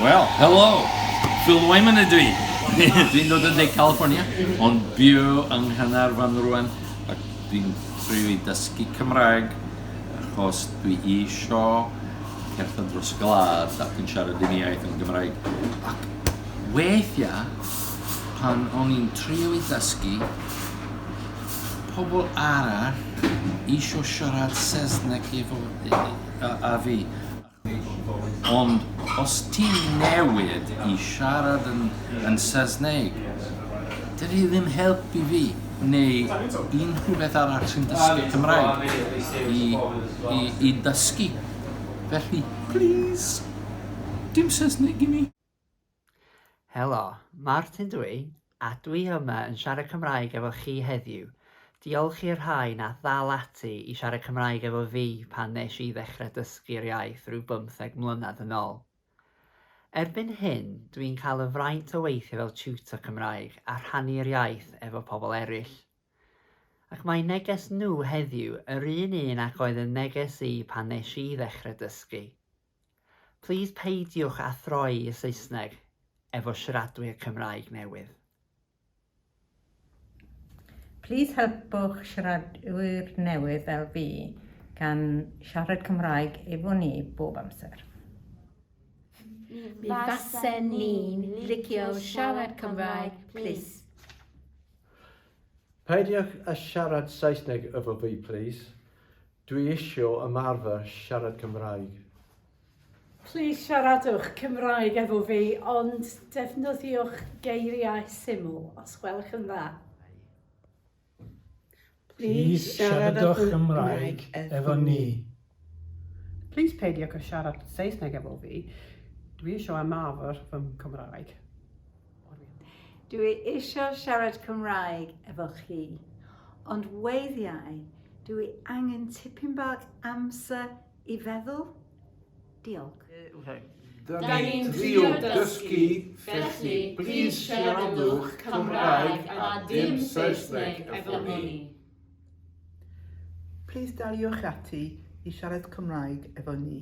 Wel, helo! Phil Wyman ydw i. Dwi'n dod yn De California, ond byw yng Nghanarfon rwan, ac dwi'n trio i dysgu Cymraeg, achos dwi isio cerdded dros y gwlad ac yn siarad un iaith yn Gymraeg. Ac weithiau, pan o'n i'n trio i dysgu, pobl arall isio siarad Saesneg efo, a, a fi. Ond os ti newydd i siarad yn yn Saesneg, dydi hi ddim helpu fi, neu unrhyw beth arall sy'n dysgu Cymraeg, i i i dysgu. Felly, plîs, dim Saesneg i mi. Helo, Martin dw i, a dw i yma yn siarad Cymraeg efo chi heddiw. Diolch i'r rhai nath ddal ati i siarad Cymraeg efo fi pan nes i ddechrau dysgu'r iaith rhyw bymtheg mlynedd yn ol. Erbyn hyn, dw i'n cael y fraint o weithio fel tutor Cymraeg a rhannu'r iaith efo pobl eraill. Ac mae neges nhw heddiw yr un un ac oedd yn neges i pan nes i ddechrau dysgu. Plîs peidiwch â throi y Saesneg efo siaradwyr Cymraeg newydd. Plîs helpwch siaradwyr newydd fel fi gan siarad Cymraeg efo ni bob amser. Mi fasen ni'n licio siarad Cymraeg plîs. Peidiwch â siarad Saesneg efo fi plîs. Dwi isio ymarfer siarad Cymraeg. Plîs siaradwch Cymraeg efo fi ond defnyddiwch geiriau syml os gwelwch yn dda. Plîs siaradwch Cymraeg efo ni. Plîs peidiwch â siarad Saesneg efo fi, dwi isio ymarfer fy Nghymraeg. Dw i eisiau siarad Cymraeg efo chi, ond weithiau dw i angen tipyn bach amser i feddwl. Diolch. Da ni'n trio dysgu, felly plîs siaradwch Cymraeg a dim Saesneg efo ni. Plîs daliwch ati i siarad Cymraeg efo ni.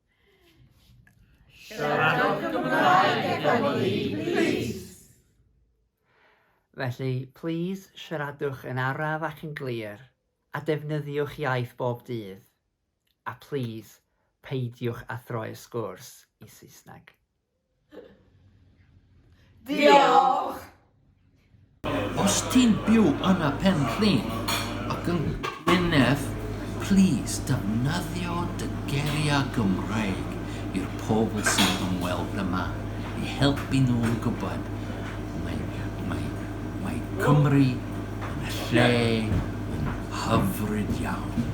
Siaradwch Gymraeg efo ni, plîs! Felly, plîs siaradwch yn araf ac yn glir, a defnyddiwch iaith bob dydd. A plîs, peidiwch â throi'r sgwrs i Saesneg. Diolch! Os ti'n byw yn y Pen Rhyn ac yn Gwynedd, plîs defnyddio dy geiriau Gymraeg i'r pobl sy'n ymweld yma i helpu nhw i gwybod mae Cymru yn lle hyfryd iawn.